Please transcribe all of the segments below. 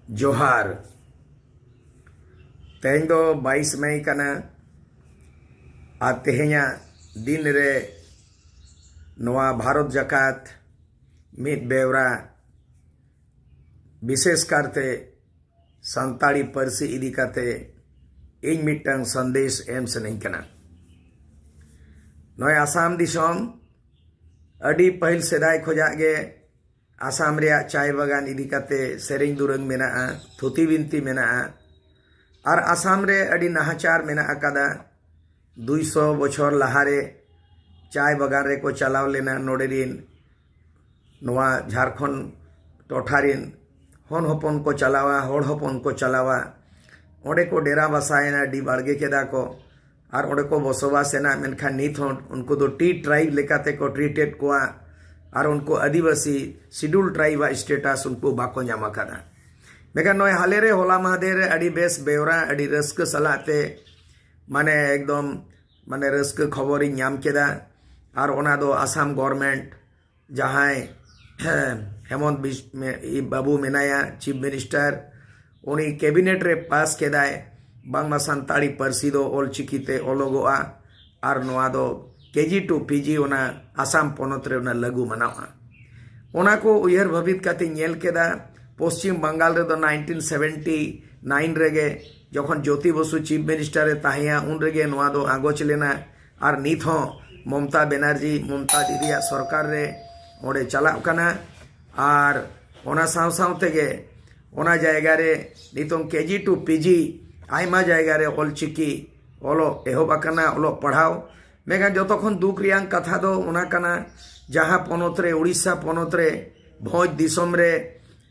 ᱡᱚᱦᱟᱨ ᱛᱮᱦᱮᱧ ᱫᱚ ᱵᱟᱭᱤᱥ ᱢᱮ ᱠᱟᱱᱟ ᱟᱨ ᱛᱮᱦᱮᱧᱟᱜ ᱫᱤᱱ ᱨᱮ ᱱᱚᱣᱟ ᱵᱷᱟᱨᱚᱛ ᱡᱟᱠᱟᱛ ᱢᱤᱫ ᱵᱮᱣᱨᱟ ᱵᱤᱥᱮᱥ ᱠᱟᱨᱛᱮ ᱥᱟᱱᱛᱟᱲᱤ ᱯᱟᱹᱨᱥᱤ ᱤᱫᱤ ᱠᱟᱛᱮ ᱤᱧ ᱢᱤᱫᱴᱟᱝ ᱥᱟᱸᱫᱮᱥ ᱮᱢ ᱥᱟᱱᱟᱧ ᱠᱟᱱᱟ ᱱᱚᱜᱼᱚᱭ ᱟᱥᱟᱢ ᱫᱤᱥᱚᱢ ᱟᱹᱰᱤ ᱯᱟᱹᱦᱤᱞ ᱥᱮᱫᱟᱭ ᱠᱷᱚᱡᱟᱜ ᱜᱮ ᱟᱥᱟᱢ ᱨᱮᱭᱟᱜ ᱪᱟᱭ ᱵᱟᱜᱟᱱ ᱤᱫᱤ ᱠᱟᱛᱮ ᱥᱮᱨᱮᱧ ᱫᱩᱨᱟᱹᱝ ᱢᱮᱱᱟᱜᱼᱟ ᱛᱷᱩᱛᱤ ᱵᱤᱱᱛᱤ ᱢᱮᱱᱟᱜᱼᱟ ᱟᱨ ᱟᱥᱟᱢ ᱨᱮ ᱟᱹᱰᱤ ᱱᱟᱦᱟᱪᱟᱨ ᱢᱮᱱᱟᱜ ᱟᱠᱟᱫᱟ ᱫᱩᱭ ᱥᱚ ᱵᱚᱪᱷᱚᱨ ᱞᱟᱦᱟᱨᱮ ᱪᱟᱭ ᱵᱟᱜᱟᱱ ᱨᱮᱠᱚ ᱪᱟᱞᱟᱣ ᱞᱮᱱᱟ ᱱᱚᱰᱮ ᱨᱤᱱ ᱱᱚᱣᱟ ᱡᱷᱟᱨᱠᱷᱚᱸᱰ ᱴᱚᱴᱷᱟ ᱨᱤᱱ ᱦᱚᱱ ᱦᱚᱯᱚᱱ ᱠᱚ ᱪᱟᱞᱟᱣᱟ ᱦᱚᱲ ᱦᱚᱯᱚᱱ ᱠᱚ ᱪᱟᱞᱟᱣᱟ ᱚᱸᱰᱮ ᱠᱚ ᱰᱮᱨᱟ ᱵᱟᱥᱟᱭᱮᱱᱟ ᱰᱤ ᱵᱟᱲᱜᱮ ᱠᱮᱫᱟ ᱠᱚ ᱟᱨ ᱚᱸᱰᱮ ᱠᱚ ᱵᱚᱥᱚᱵᱟᱥ ᱮᱱᱟ ᱢᱮᱱᱠᱷᱟᱱ ᱱᱤᱛ ᱦᱚᱸ ᱩᱱᱠᱩ ᱫᱚ ᱴᱤ ᱴᱨᱟᱭᱤᱵᱽ ᱞᱮᱠᱟᱛᱮ ᱠᱚ ᱴᱨᱤᱴᱮᱰ ᱠᱚᱣᱟ ᱟᱨ ᱩᱱᱠᱩ ᱟᱹᱫᱤᱵᱟᱹᱥᱤ ᱥᱤᱰᱩᱞ ᱴᱨᱟᱭᱤᱵᱽ ᱟᱜ ᱥᱴᱮᱴᱟᱥ ᱩᱱᱠᱩ ᱵᱟᱠᱚ ᱧᱟᱢ ᱟᱠᱟᱫᱟ ᱢᱮᱱᱠᱷᱟᱱ ᱱᱚᱜᱼᱚᱭ ᱦᱟᱞᱮ ᱨᱮ ᱦᱚᱞᱟ ᱢᱟᱦᱫᱮᱨ ᱨᱮ ᱟᱹᱰᱤ ᱵᱮᱥ ᱵᱮᱣᱨᱟ ᱟᱹᱰᱤ ᱨᱟᱹᱥᱠᱟᱹ ᱥᱟᱞᱟᱜ ᱛᱮ ᱢᱟᱱᱮ ᱮᱠᱫᱚᱢ ᱢᱟᱱᱮ ᱨᱟᱹᱥᱠᱟᱹ ᱠᱷᱚᱵᱚᱨᱤᱧ ᱧᱟᱢ ᱠᱮᱫᱟ ᱟᱨ ᱚᱱᱟ ᱫᱚ ᱟᱥᱟᱢ ᱜᱚᱨᱢᱮᱱᱴ ᱡᱟᱦᱟᱸᱭ ᱦᱮᱢᱚᱱᱛ ᱵᱟᱹᱵᱩ ᱢᱮᱱᱟᱭᱟ ᱪᱤᱯᱷ ᱢᱤᱱᱤᱥᱴᱟᱨ ᱩᱱᱤ ᱠᱮᱵᱤᱱᱮᱴ ᱨᱮ ᱯᱟᱥ ᱠᱮᱫᱟᱭ ᱵᱟᱝᱢᱟ ᱥᱟᱱᱛᱟᱲᱤ ᱯᱟᱹᱨᱥᱤ ᱫᱚ ᱚᱞ ᱪᱤᱠᱤ ᱛᱮ ᱚᱞᱚᱜᱚᱜᱼᱟ ᱟᱨ ᱱᱚᱣᱟ ᱫᱚ ᱠᱮᱡᱤ ᱴᱩ ᱯᱤᱡᱤ ᱚᱱᱟ ᱟᱥᱟᱢ ᱯᱚᱱᱚᱛ ᱨᱮ ᱚᱱᱟ ᱞᱟᱹᱜᱩ ᱢᱟᱱᱟᱣᱜᱼᱟ ᱚᱱᱟ ᱠᱚ ᱩᱭᱦᱟᱹᱨ ᱵᱷᱟᱹᱵᱤᱛ ᱠᱟᱛᱮ ᱧᱮᱞ ᱠᱮᱫᱟ ᱯᱚᱥᱪᱤᱢ ᱵᱟᱝᱜᱟᱞ ᱨᱮᱫᱚ ᱱᱟᱭᱤᱱᱴᱤᱱ ᱥᱮᱵᱷᱮᱱᱴᱤ ᱱᱟᱭᱤᱱ ᱨᱮᱜᱮ ᱡᱚᱠᱷᱚᱱ ᱡᱳᱛᱤ ᱵᱚᱥᱩ ᱪᱤᱯᱷ ᱢᱤᱱᱤᱥᱴᱟᱨ ᱮ ᱛᱟᱦᱮᱸᱭᱟ ᱩᱱ ᱨᱮᱜᱮ ᱱᱚᱣᱟ ᱫᱚ ᱟᱸᱜᱚᱪ ᱞᱮᱱᱟ ᱟᱨ ᱱᱤᱛ ᱦᱚᱸ ᱢᱚᱢᱛᱟ ᱵᱮᱱᱟᱨᱡᱤ ᱢᱚᱢᱛᱟ ᱫᱤᱫᱤᱭᱟᱜ ᱥᱚᱨᱠᱟᱨ ᱨᱮ ᱚᱸᱰᱮ ᱪᱟᱞᱟᱜ ᱠᱟᱱᱟ ᱟᱨ ᱚᱱᱟ ᱥᱟᱶ ᱥᱟᱶ ᱛᱮᱜᱮ ᱚᱱᱟ ᱡᱟᱭᱜᱟ ᱨᱮ ᱱᱤᱛᱚᱝ ᱠᱮᱡᱤ ᱴᱩ ᱯᱤᱡᱤ ᱟᱭᱢᱟ ᱡᱟᱭᱜᱟ ᱨᱮ ᱚᱞ ᱪᱤᱠᱤ ᱚᱞᱚᱜ ᱮᱦᱚᱵ ᱟᱠᱟᱱᱟ ᱚᱞᱚᱜ ᱯᱟᱲᱦᱟᱣ ᱢᱮᱱᱠᱷᱟᱱ ᱡᱚᱛᱚ ᱠᱷᱚᱱ ᱫᱩᱠ ᱨᱮᱭᱟᱝ ᱠᱟᱛᱷᱟ ᱫᱚ ᱚᱱᱟ ᱠᱟᱱᱟ ᱡᱟᱦᱟᱸ ᱯᱚᱱᱚᱛ ᱨᱮ ᱳᱰᱤᱥᱟ ᱯᱚᱱᱚᱛ ᱨᱮ ᱵᱷᱚᱸᱡᱽ ᱫᱤᱥᱚᱢ ᱨᱮ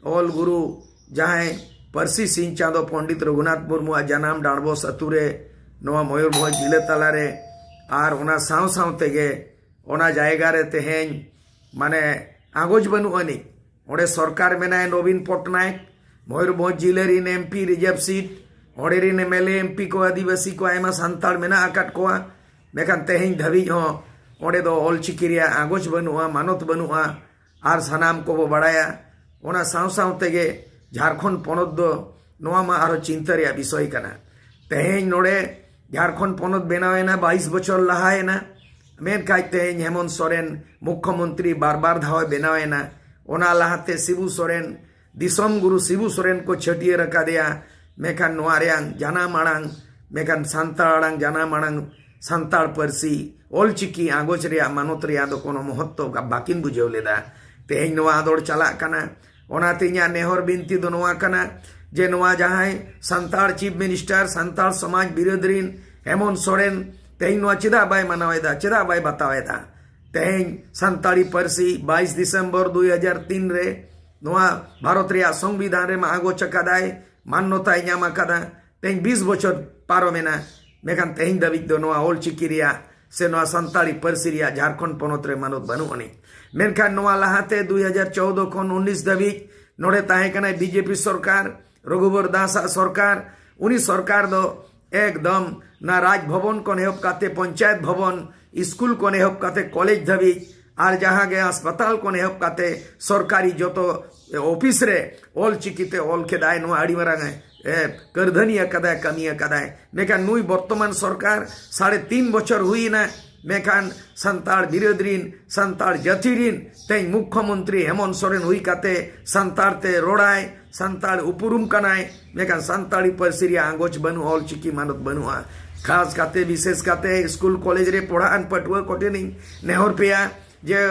ᱚᱞ ᱜᱩᱨᱩ ᱡᱟᱦᱟᱸᱭ ᱯᱟᱹᱨᱥᱤ ᱥᱤᱧ ᱪᱟᱸᱫᱚ ᱯᱚᱱᱰᱤᱛ ᱨᱚᱜᱷᱩᱱᱟᱛᱷ ᱢᱩᱨᱢᱩᱣᱟᱜ ᱡᱟᱱᱟᱢ ᱰᱟᱬᱵᱚᱥ ᱟᱛᱳ ᱨᱮ ᱱᱚᱣᱟ ᱢᱚᱭᱩᱨᱵᱷᱚᱸᱡᱽ ᱡᱤᱞᱟᱹ ᱛᱟᱞᱟᱨᱮ ᱟᱨ ᱚᱱᱟ ᱥᱟᱶ ᱥᱟᱶ ᱛᱮᱜᱮ ᱚᱱᱟ ᱡᱟᱭᱜᱟ ᱨᱮ ᱛᱮᱦᱮᱧ ᱢᱟᱱᱮ ᱟᱜᱚᱡᱽ ᱵᱟᱹᱱᱩᱜ ᱟᱹᱱᱤᱡ ᱚᱸᱰᱮ ᱥᱚᱨᱠᱟᱨ ᱢᱮᱱᱟᱭ ᱱᱚᱵᱤᱱ ᱯᱚᱴᱱᱟᱭᱮᱠ ᱢᱚᱭᱩᱨᱵᱷᱚᱸᱡᱽ ᱡᱤᱞᱟᱹ ᱨᱤᱱ ᱮᱢᱯᱤ ᱨᱤᱡᱟᱨᱵᱷ ᱥᱤᱴ ᱚᱸᱰᱮ ᱨᱤᱱ ᱮᱢᱮᱞᱮ ᱮᱢᱯᱤ ᱠᱚ ᱟᱹᱫᱤᱵᱟᱹᱥᱤ ᱠᱚ ᱟᱭᱢᱟ ᱥᱟᱱᱛᱟᱲ ᱢᱮᱱᱟᱜ ᱟᱠᱟᱫ ᱠᱚᱣᱟ ᱢᱮᱱᱠᱷᱟᱱ ᱛᱮᱦᱮᱧ ᱫᱷᱟᱹᱵᱤᱡ ᱦᱚᱸ ᱚᱸᱰᱮ ᱫᱚ ᱚᱞᱪᱤᱠᱤ ᱨᱮᱭᱟᱜ ᱟᱜᱚᱡᱽ ᱵᱟᱹᱱᱩᱜᱼᱟ ᱢᱟᱱᱚᱛ ᱵᱟᱹᱱᱩᱜᱼᱟ ᱟᱨ ᱥᱟᱱᱟᱢ ᱠᱚᱵᱚ ᱵᱟᱲᱟᱭᱟ ᱚᱱᱟ ᱥᱟᱶ ᱥᱟᱶ ᱛᱮᱜᱮ ᱡᱷᱟᱲᱠᱷᱚᱸᱰ ᱯᱚᱱᱚᱛ ᱫᱚ ᱱᱚᱣᱟ ᱢᱟ ᱟᱨᱦᱚᱸ ᱪᱤᱱᱛᱟᱹ ᱨᱮᱭᱟᱜ ᱵᱤᱥᱚᱭ ᱠᱟᱱᱟ ᱛᱮᱦᱮᱧ ᱱᱚᱰᱮ ᱡᱷᱟᱲᱠᱷᱚᱸᱰ ᱯᱚᱱᱚᱛ ᱵᱮᱱᱟᱣᱮᱱᱟ ᱵᱟᱭᱤᱥ ᱵᱚᱪᱷᱚᱨ ᱞᱟᱦᱟᱭᱮᱱᱟ ᱢᱮᱱᱠᱷᱟᱡ ᱛᱮᱦᱮᱧ ᱦᱮᱢᱚᱱᱛ ᱥᱚᱨᱮᱱ ᱢᱩᱠᱷᱚᱢᱚᱱᱛᱨᱤ ᱵᱟᱨ ᱵᱟᱨ ᱫᱷᱟᱣᱮ ᱵᱮᱱᱟᱣᱮᱱᱟ ᱚᱱᱟ ᱞᱟᱦᱟᱛᱮ ᱥᱤᱵᱩ ᱥᱚᱨᱮᱱ ᱫᱤᱥᱚᱢ ᱜᱩᱨᱩ ᱥᱤᱵᱩ ᱥᱚᱨᱮᱱ ᱠᱚ ᱪᱷᱟᱹᱴᱭᱟᱹᱨ ᱟᱠᱟᱫᱮᱭᱟ ᱢᱮᱱᱠᱷᱟᱱ ᱱᱚᱣᱟ ᱨᱮᱭᱟᱝ ᱡᱟᱱᱟᱢ ᱟᱲᱟᱝ ᱢᱮᱱᱠᱷᱟᱱ ᱥᱟᱱᱛᱟᱲ ᱟᱲᱟᱝ ᱡᱟᱱᱟᱢ ᱟᱲᱟᱝ ᱥᱟᱱᱛᱟᱲ ᱯᱟᱹᱨᱥᱤ ᱚᱞᱪᱤᱠᱤ ᱟᱸᱜᱚᱪ ᱨᱮᱭᱟᱜ ᱢᱟᱱᱚᱛ ᱨᱮᱭᱟᱜ ᱫᱚ ᱠᱳᱱᱳ ᱢᱚᱦᱚᱛᱛᱚ ᱵᱟᱹᱠᱤᱱ ᱵᱩᱡᱷᱟᱹᱣ ᱞᱮᱫᱟ ᱛᱮᱦᱮᱧ ᱱᱚᱣᱟ ᱟᱫᱚᱲ ᱪᱟᱞᱟᱜ ᱠᱟᱱᱟ ᱚᱱᱟᱛᱮ ᱤᱧᱟᱹᱜ ᱱᱮᱦᱚᱨ ᱵᱤᱱᱛᱤ ᱫᱚ ᱱᱚᱣᱟ ᱠᱟᱱᱟ ᱡᱮ ᱱᱚᱣᱟ ᱡᱟᱦᱟᱸᱭ ᱥᱟᱱᱛᱟᱲ ᱪᱤᱯ ᱢᱤᱱᱤᱥᱴᱟᱨ ᱥᱟᱱᱛᱟᱲ ᱥᱚᱢᱟᱡᱽ ᱵᱤᱨᱳᱫ ᱨᱤᱱ ᱦᱮᱢᱚᱱ ᱥᱚᱨᱮᱱ ᱛᱮᱦᱮᱧ ᱱᱚᱣᱟ ᱪᱮᱫᱟᱜ ᱵᱟᱭ ᱢᱟᱱᱟᱣᱮᱫᱟ ᱪᱮᱫᱟᱜ ᱵᱟᱭ ᱵᱟᱛᱟᱣᱮᱫᱟ ᱛᱮᱦᱮᱧ ᱥᱟᱱᱛᱟᱲᱤ ᱯᱟᱹᱨᱥᱤ ᱵᱟᱭᱤᱥ ᱰᱤᱥᱮᱢᱵᱚᱨ ᱫᱩᱭ ᱦᱟᱡᱟᱨ ᱛᱤᱱ ᱨᱮ ᱱᱚᱣᱟ ᱵᱷᱟᱨᱚᱛ ᱨᱮᱭᱟᱜ ᱥᱚᱝᱵᱤᱫᱷᱟᱱ ᱨᱮ ᱢᱟ ᱟᱜᱚᱪ ᱟᱠᱟᱫᱟᱭ ᱢᱟᱱᱱᱚᱛᱟᱭ ᱧᱟᱢ ᱟᱠᱟᱫᱟ ᱛᱮᱦᱮᱧ ᱵᱤᱥ ᱵᱚᱪᱷᱚᱨ ᱯᱟᱨᱚᱢᱮᱱᱟ ᱢᱮᱱᱠᱷᱟᱱ ᱛᱮᱦᱮᱧ ᱫᱷᱟᱹᱵᱤᱡ ᱫᱚ ᱱᱚᱣᱟ ᱚᱞ ᱪᱤᱠᱤ ᱨᱮᱭᱟᱜ ᱥᱮ ᱱᱚᱣᱟ ᱥᱟᱱᱛᱟᱲᱤ ᱯᱟᱹᱨᱥᱤ ᱨᱮᱭᱟᱜ ᱡᱷᱟᱨᱠᱷᱚᱸᱰ ᱯᱚᱱᱚᱛ ᱨᱮ ᱢᱟᱱᱚᱛ ᱵᱟᱹᱱᱩᱜ ᱟᱹᱱᱤᱡ ᱢᱮᱱᱠᱷᱟᱱ ᱱᱚᱣᱟ ᱞᱟᱦᱟᱛᱮ ᱫᱩᱭ ᱦᱟᱡᱟᱨ ᱪᱚᱣᱫᱚ ᱠᱷᱚᱱ ᱩᱱᱤᱥ ᱫᱷᱟᱹᱵᱤᱡ ᱱᱚᱰᱮ ᱛᱟᱦᱮᱸ ᱠᱟᱱᱟᱭ ᱵᱤᱡᱮᱯᱤ ᱥᱚᱨᱠᱟᱨ ᱨᱚᱜᱷᱩᱵᱚᱨ ᱫᱟᱥ ᱟᱜ ᱥᱚᱨᱠᱟᱨ ᱩᱱᱤ ᱥᱚᱨᱠᱟᱨ ᱫᱚ ᱮᱠᱫᱚᱢ ᱱᱟ ᱨᱟᱡᱽ ᱵᱷᱚᱵᱚᱱ ᱠᱷᱚᱱ ᱮᱦᱚᱵ ᱠᱟᱛᱮ ᱯᱚᱧᱪᱟᱭᱮᱛ ᱵᱷᱚᱵᱚᱱ ᱥᱠᱩᱞ ᱠᱷᱚᱱ ᱮᱦᱚᱵ ᱠᱟᱛᱮ ᱠᱚᱞᱮᱡᱽ ᱫᱷᱟᱹᱵᱤᱡ ᱟᱨ ᱡᱟᱦᱟᱸ ᱜᱮ ᱦᱟᱥᱯᱟᱛᱟᱞ ᱠᱷᱚᱱ ᱮᱦᱚᱵ ᱠᱟᱛᱮ ᱥᱚᱨᱠᱟᱨᱤ ᱡᱚᱛᱚ ᱚᱯᱷᱤᱥ ᱨᱮ ᱚᱞ ᱪᱤᱠᱤ ᱛᱮ ᱚᱞ ᱠᱮᱫᱟᱭ ᱱᱚᱣᱟ ᱟᱹᱰᱤ ᱢᱟᱨᱟᱝ ᱠᱟᱹᱨᱫᱷᱟᱹᱱᱤ ᱟᱠᱟᱫᱟᱭ ᱠᱟᱹᱢᱤ ᱟᱠᱟᱫᱟᱭ ᱢᱮᱱᱠᱷᱟᱱ ᱱᱩᱭ ᱵᱚᱨᱛᱚᱢᱟᱱ ᱥᱚᱨᱠᱟᱨ ᱥᱟᱲᱮ ᱛᱤᱱ ᱵᱚᱪᱷᱚᱨ ᱦᱩᱭᱮᱱᱟ ᱢᱮᱱᱠᱷᱟᱱ ᱥᱟᱱᱛᱟᱲ ᱵᱤᱨᱟᱹᱫ ᱨᱤᱱ ᱥᱟᱱᱛᱟᱲ ᱡᱟᱹᱛᱤ ᱨᱤᱱ ᱛᱮᱦᱮᱧ ᱢᱩᱠᱷᱚᱢᱚᱱᱛᱨᱤ ᱦᱮᱢᱚᱱᱛ ᱥᱚᱨᱮᱱ ᱦᱩᱭ ᱠᱟᱛᱮ ᱥᱟᱱᱛᱟᱲ ᱛᱮ ᱨᱚᱲᱟᱭ ᱥᱟᱱᱛᱟᱲ ᱩᱯᱨᱩᱢ ᱠᱟᱱᱟᱭ ᱢᱮᱱᱠᱷᱟᱱ ᱥᱟᱱᱛᱟᱲᱤ ᱯᱟᱹᱨᱥᱤ ᱨᱮᱭᱟᱜ ᱟᱸᱜᱚᱪ ᱵᱟᱹᱱᱩᱜᱼᱟ ᱚᱞ ᱪᱤᱠᱤ ᱢᱟᱱᱚᱛ ᱵᱟᱹᱱᱩᱜᱼᱟ ᱠᱷᱟᱥ ᱠᱟᱛᱮ ᱵᱤᱥᱮᱥ ᱠᱟᱛᱮ ᱥᱠᱩᱞ ᱠᱚᱞᱮᱡᱽ ᱨᱮ ᱯᱚᱲᱦᱟᱜ ᱟᱱ ᱯᱟᱹᱴᱷᱩᱣᱟᱹ ᱠᱚᱴᱷᱮᱱ ᱤᱧ ᱱᱮᱦᱚᱨ ᱯᱮᱭᱟ ᱡᱮ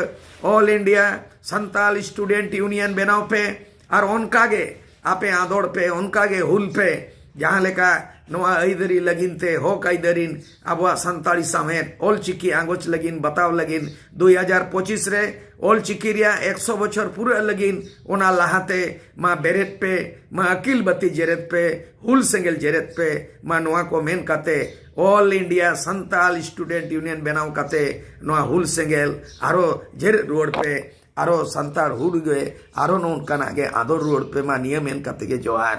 all India Santal student union ᱵᱮᱱᱟᱣ ᱯᱮ ᱟᱨ ᱚᱱᱠᱟ ᱜᱮ ᱟᱯᱮ ᱟᱸᱫᱚᱲ ᱯᱮ ᱚᱱᱠᱟ ᱜᱮ ᱦᱩᱞ ᱯᱮ ᱡᱟᱦᱟᱸ ᱞᱮᱠᱟ ᱱᱚᱣᱟ ᱟᱹᱭᱫᱟᱹᱨᱤ ᱞᱟᱹᱜᱤᱫ ᱛᱮ ᱦᱚᱠ ᱟᱹᱭᱫᱟᱹᱨᱤ ᱟᱵᱚᱣᱟᱜ ᱥᱟᱱᱛᱟᱲᱤ ᱥᱟᱶᱦᱮᱫ ᱚᱞ ᱪᱤᱠᱤ ᱟᱸᱜᱚᱪ ᱞᱟᱹᱜᱤᱫ ᱵᱟᱛᱟᱣ ᱞᱟᱹᱜᱤᱫ ᱫᱩᱭ ᱦᱟᱡᱟᱨ ᱯᱚᱸᱪᱤᱥ ᱨᱮ ᱚᱞ ᱪᱤᱠᱤ ᱨᱮᱭᱟᱜ ᱮᱠᱥᱚ ᱵᱚᱪᱷᱚᱨ ᱯᱩᱨᱟᱹᱜ ᱞᱟᱹᱜᱤᱫ ᱚᱱᱟ ᱞᱟᱦᱟᱛᱮ ᱢᱟ ᱵᱮᱨᱮᱫ ᱯᱮ ᱢᱟ ᱟᱹᱠᱤᱞ ᱵᱟᱹᱛᱤ ᱡᱮᱨᱮᱫ ᱯᱮ ᱦᱩᱞ ᱥᱮᱸᱜᱮᱞ ᱡᱮᱨᱮᱫ ᱯᱮ ᱢᱟ ᱱᱚᱣᱟ ᱠᱚ ᱢᱮᱱ ᱠᱟᱛᱮ all India Santal student union ᱵᱮᱱᱟᱣ ᱠᱟᱛᱮ ᱱᱚᱣᱟ ᱦᱩᱞ ᱥᱮᱸᱜᱮᱞ ᱟᱨᱚ ᱡᱮᱨᱮᱫ ᱨᱩᱣᱟᱹᱲ ᱯᱮ ᱟᱨᱚ ᱥᱟᱱᱛᱟᱲ ᱦᱩᱞ ᱜᱮ ᱟᱨᱚ ᱱᱚᱝᱠᱟᱱᱟᱜ ᱜᱮ ᱟᱫᱚᱨ ᱨᱩᱣᱟᱹᱲ ᱯᱮ ᱢᱟ ᱱᱤᱭᱟᱹ ᱢᱮᱱ ᱠᱟᱛᱮ ᱜᱮ ᱡᱚᱦᱟᱨ